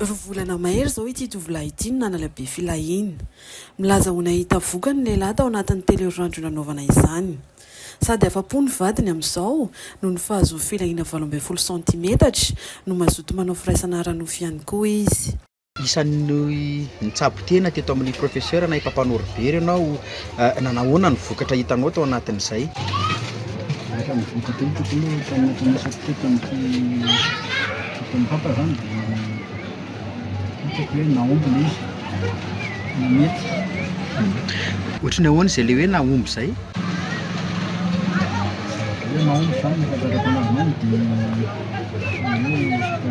Roa volana mahery izao ity tovolahy ity no nanala be filahiana. Milaza ho nahita vokany ny lehilahy tao anatin'ny telo herinandro nanaovana izany. Sady afa-po ny vadiny amin'izao noho ny fahazoany filahiana valo ambin'ny folo santimetatra no mazoto manao firaisana ara-nofo ihany koa izy. Isan'ny nitsabo tena teto amin'ny Professeur nahay mpampanory very ianao. Nanahoana ny vokatra hitanao tao anatin'izay? Rehefa nivoaka teny teto aloha tany anatin'ny asako teto tamin'ity fotoana hafa izany dia hitako hoe nahomby ilay izy, namety. Ohatry ny ahoana izay ilay hoe nahomby izay? Ilay hoe nahomby izany ny fahatakako an'azy izany dia ohatry ny hoe resaka.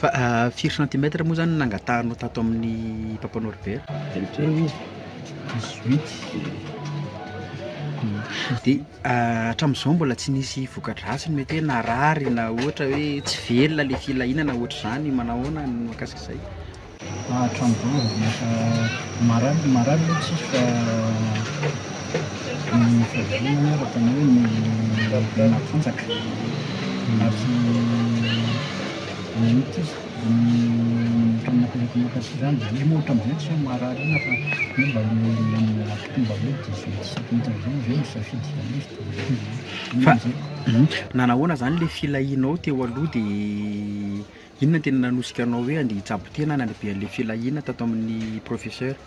Firy centimètre moa zany no nangatahanao tato amin'ny Papa Norbert? Dix-huit. Hatramin'izao mbola tsy nisy voka-dratsiny mety hoe narary na ohatra hoe tsy velona ilay filahiana ohatr'izany, manao ahoana ny mahakasika izay? Hatramin'izao mbola tsy nisy marary, marary aloha tsisy fa ny fiaviana ny ara-panahy no nahatanjaka ary ny an'ity. Nanahoana izany ilay filahianao teo aloha dia inona no tena nanosika anao hoe handeha hitsabo tena any andeha be an'ilay filahiana tato amin'ny professeur?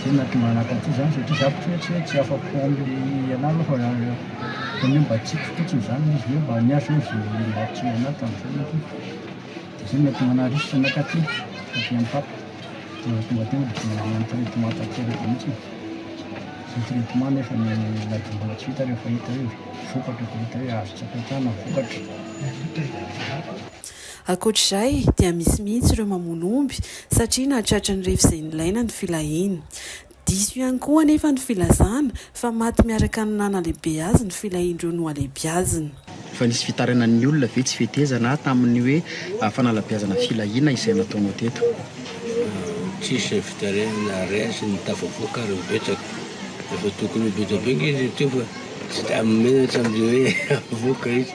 Zay no nahatonga anah taty zany satria za ohatrany hoe tsy afa-po amle anah aloha fa ohatrany hoe mba tiako fotsiny zany le izy hoe mba niahy zany ze nilahitsiny anah tam fiainako iny de zay no nahatonga anah r'isy zany taty taty am papa de zay tonga teo de nanao traitement tanteraka mihitsy zay traitement nefa ny na de mbola tsy vita refa hita hoe vokatra fa hita hoe azo tsy apetrahana ny vokatra Ankoatra izay dia misy mihitsy ireo mamono omby satria nahatratry ny refy izay nilaina ny filahiany. Diso ihany koa anefa ny filazana fa maty miaraka ny nanalehibe azy ny filahian'ireo nohalehibiazina. Fa nisy fitaranan'ny olona ve tsy fetezana tamin'ny hoe fanalabiazana filahiana izay nataonao teto? Tsisy fitarainana rien sy ny tafavoaka ary betsaka efa tokony ho betsaka be nge izy teo fa tsy da menatra amle hoe avoaka izy.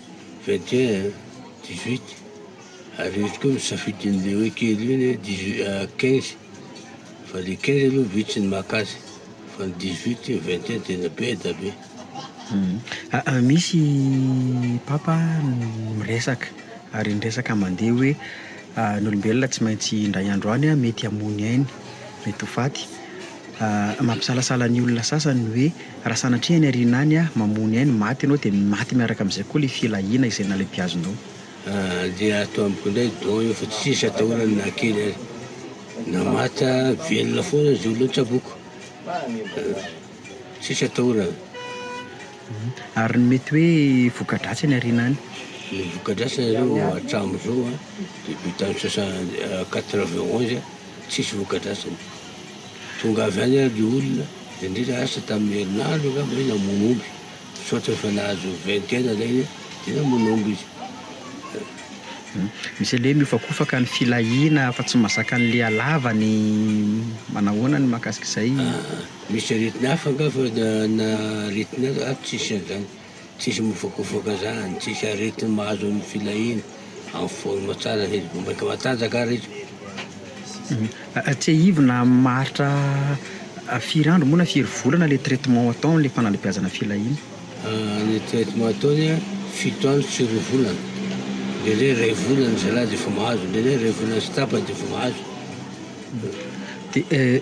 21 eh, 18 ary izy koa misafidy an'le hoe kely iny eh, 18 ah, 15 fa le 15 aloha vitsy ny maka azy fa ny 18 eh, 21 tena be da be. Misy papa miresaka ary ny resaka mandeha hoe ny olombelona tsy maintsy indray andro any mety hamoy ny ainy, mety ho faty. Mampisalasala ny olona sasany ny hoe raha sanatria any aoriana any mamono ahy ny maty ianao dia maty miaraka amin'izay koa ilay filahiana izay nalebiazonao. Dia ato amiko indray don io fa tsisy atahorany na kely aza. Na maty na velona foana aza io aloha tsaboiko. Tsisy atahorana. Ary ny mety hoe voka-dratsy any aoriana any? Ny voka-dratsiny aloha hatramin'izao dia bitan'ny soixante, quatre-vingt onze. Tsisy vokadratsiny. Tonga avy any ary ny olona, indrindra asa tamin'ny herinandro angamba hoe namono omby. Misaotra fa nahazo vingtaine ilay izy dia namono omby izy. Misy an'ilay hoe mihofakofaka ny filahiana fa tsy mazaka ny lialava ny manahoana ny mahakasika izay? Misy aretina hafa angaha fa na aretina hafa tsisy an'izany. Tsisy mivokovoka zany, tsisy aretigny mahazo ny filahiana, en forme tsara izy, vao maika matanjaka ary izy. Tsiahivina amin'ny maharitra firy andro moa na firy volana le traitement atao le fanalebiazana filahiana? Ny traitement ataony an, fito andro tsy roa volana, ndraindray iray volana zalahy de efa mahazo, ndraindray iray volana sy tapany de efa mahazo. De.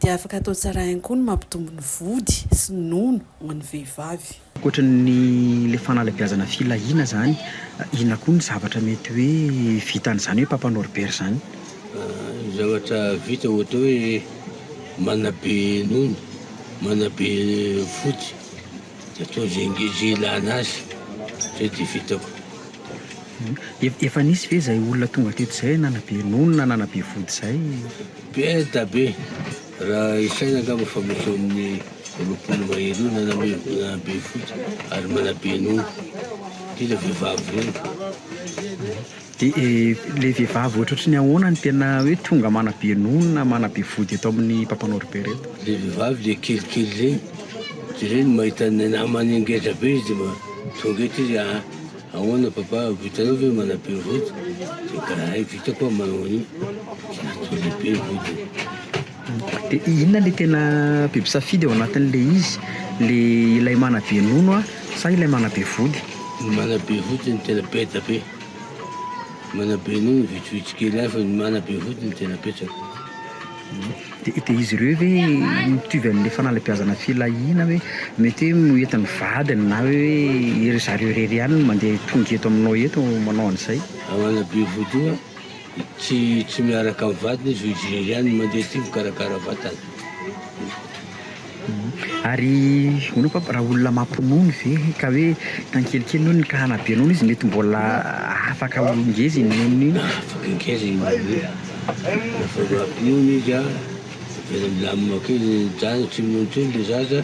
dia afaka atao tsara ihany koa ny mampitombo ny vody sy ny nono ho an'ny vehivavy. Ankoatra ny ilay fanalabiazana filahiana izany, inona koa ny zavatra mety hoe vitan'izany hoe Papa Norbert izany? Ny zavatra vita ohatra hoe manabe nono, manabe vody dia atao izay nge- izay ilana azy. Izay dia vitako. Efa nisy ve izay olona tonga teto izay nanabe nono na nanabe vody izay? Be da be! Raha isaina angamba fa misy eo amin'ny roapolo mahery eo na na be fotsy ary manabe ny omby, indrindra vehivavy ireny. De le vehivavy ohatrohatry ny ahoana no tena hoe tonga manabe ny omby na manabe vody eto amin'ny mpampanorbe reto? Le vehivavy le kelikely regny, de regny mahita ny namany ngeza be izy de ma- tonga eto izy aa. Ahoana papa vitanao ve manabe vody? De karahay vita koa manao an'io zatra lehibe vodiny. De inona le tena be mpisafidy ao anatin'le izy? Le ilay manabe nono a sa ilay manabe vody? Ny manabe vody no tena beda be, manabe nono vitsivitsy kely ihany fa ny manabe vody no tena betsaka. Dia dia izy ireo ve mitovy amin'ilay fanalabiazana filahiana hoe mety hoe no eto ny vadiny na hoe iry zareo irery ihany no mandeha tonga eto aminao eto manao an'izay? Agnana be vodoha, tsy tsy miaraka amin'ny vadiny izy fa izy irery ihany no mandeha aty mikarakara vatana. Ary hono papa raha olona mampinono ve ka hoe tan kelikely nonony ka hanabe nono izy mety mbola afaka ho ngeza iny nonony iny? Afaka ngeza iny nonony iny refa mbola mpinono izy an de milamina kely tsy minono tsony le zaza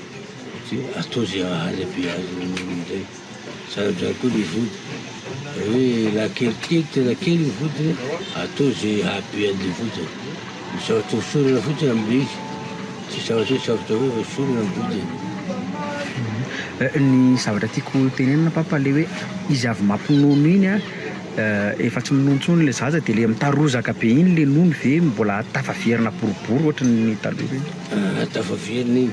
de atao ze hahabe azy nonony zay. Sarodrano koa ny vody. Raha hoe lahankely kely, tena kely ny vodiny, atao ze hahabean'ny vodiny. Misaotra hosorana fotsiny amin'ny briky. Tsy sarotra hoe sarotra hoe hosorana ny vodiny. Ny zavatra tiako tenenina papa le hoe izy avy mampinono iny a efa tsy minono tsony le zaza de le mitarozaka be iny le nono ve mbola tafaverina boribory ohatry ny taloha reny? Tafaverina iny.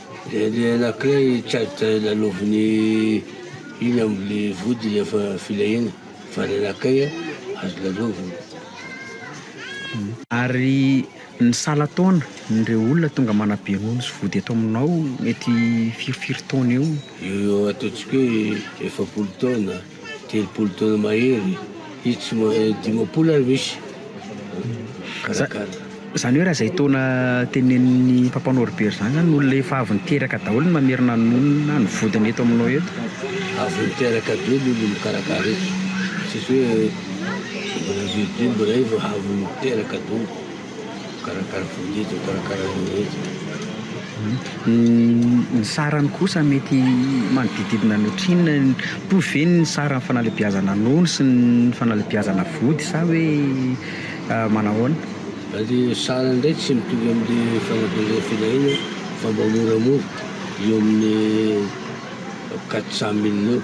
Dia le anankiray charge lalaoviny iny am le vody rehefa filahiana fa le anankiray a azo lalaovina. Ary ny salan-taona n'ireo olona tonga manabe nono sy vody eto aminao mety firy firy taona eo? Eo ho eo ataontsika hoe efapolo taona. Telopolo taona mahery izy tsy ma- eh, dimampolo ary misy Za- karakara. Zany hoe raha zay taona tenenin'ny Papa Norbert zany zany olona efa avy niteraka daholo ny mamerina ny monina ny vodiny eto aminao eto. Avy niteraka be ny olona mikarakara eto. Tsisy hoe mbola vieux Dieu mbola eo fa avy niteraka daholo. Karakara vola izy, karakara an'io izy. Ny sarany kosa mety manodididina ny ohatrinona? Mitovy ve ny saran'ny fanalebiazana nono sy ny fanalebiazana vody sa hoe manahoana? Ny sarany indray tsy mitovy amin'ny fanalebiazana filahiana fa mba moramora, eo amin'ny quatre cent mille eo.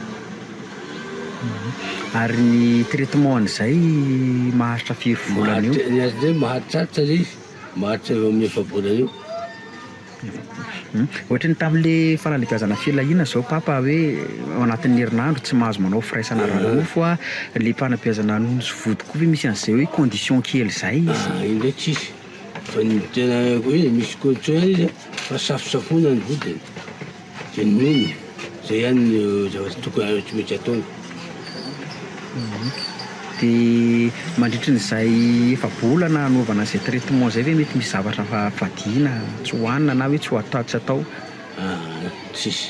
Ary ny traitement an'izay maharitra firy volana eo? Ny azy indray mahatratra le izy, maharitra eo amin'ny efa-bolana eo. Ohatra ny tamin'le fanalebiazana filahiana zao papa hoe ao anatin'ny herinandro tsy mahazo manao firaisana ara-nofo a, le fanabeazana nono sy vody koa ve misy an'zay hoe condition kely zay izy? Ah iny ndray tsisy, fa ny tena hoe misy condition ihany izy a fa safosafoina ny vodiny. Genuine, zay ihany no zavatra tokony tsy maintsy ataony. Dia mandritry ny izay efa-bolana hanaovana izay traitement izay ve mety misy zavatra fa vadiana tsy hohanina na hoe tsy ho atao tsy atao? Aa tsisy,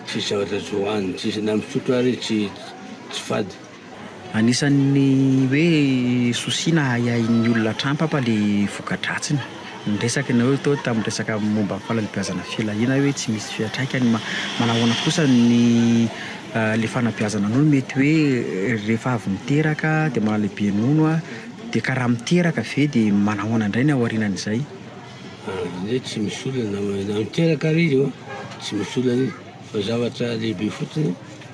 tsisy zavatra tsy hohanina, tsisy na misotro ary tsy tsy fady. Anisan'ny hoe souci na ahiahin'ny olona hatrany papa le voka-dratsiny. Ny resaka enao io teo tamin'ny resaka momba ny fanabeazana filahiana hoe tsy misy fiantraikany ma- manahoana kosa ny le fanabeazana anao mety hoe rehefa avy niteraka de maha lehibe nono a de ka raha miteraka ve de manahoana indray ny aorianan'izay? Zay tsy misy olana na miteraka ary izy ô tsy misy olana izy fa zavatra lehibe fotsiny.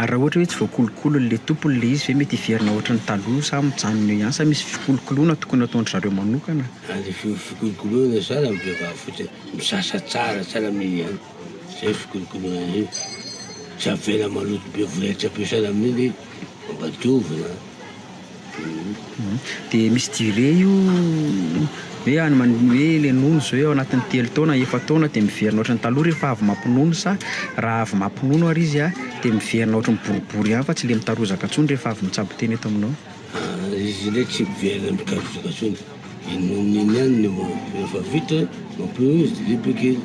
Ary raha ohatra hoe tsy voakolokolo ilay tompony ilay izy ve mety hiverina ohatran'ny taloha sa mijanona eo ihany sa misy fikolokoloana tokony ataon-dry zareo manokana? Aza fikolokoloana zany amin'ny vehivavy fotsiny, misasa tsara tsy sahala amin'iny ihany, zay fikolokoloana an'iny, tsy avela maloto be voretra be sahala amin'iny, mba diovina. Dia misy durée io hoe any man- hoe le nono zao eo agnatin'ny telo taona efa taona de miverina ohatran'ny taloha rehefa avy mampinono sa raha avy mampinono ary izy a de miverina ohatran'ny boribory ihany fa tsy le mitarozaka intsony rehefa avy mitsabo tena eto aminao. Izy le tsy miverina mitarozaka intsony. Inoan'ny iny ihany ny hoe rehefa vita mampio izy dia libre kely.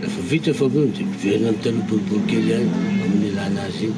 Rehefa vita ny fampiony dia miverina amin'ny taloha boribory kely ihany amin'ny ilàna azy iny.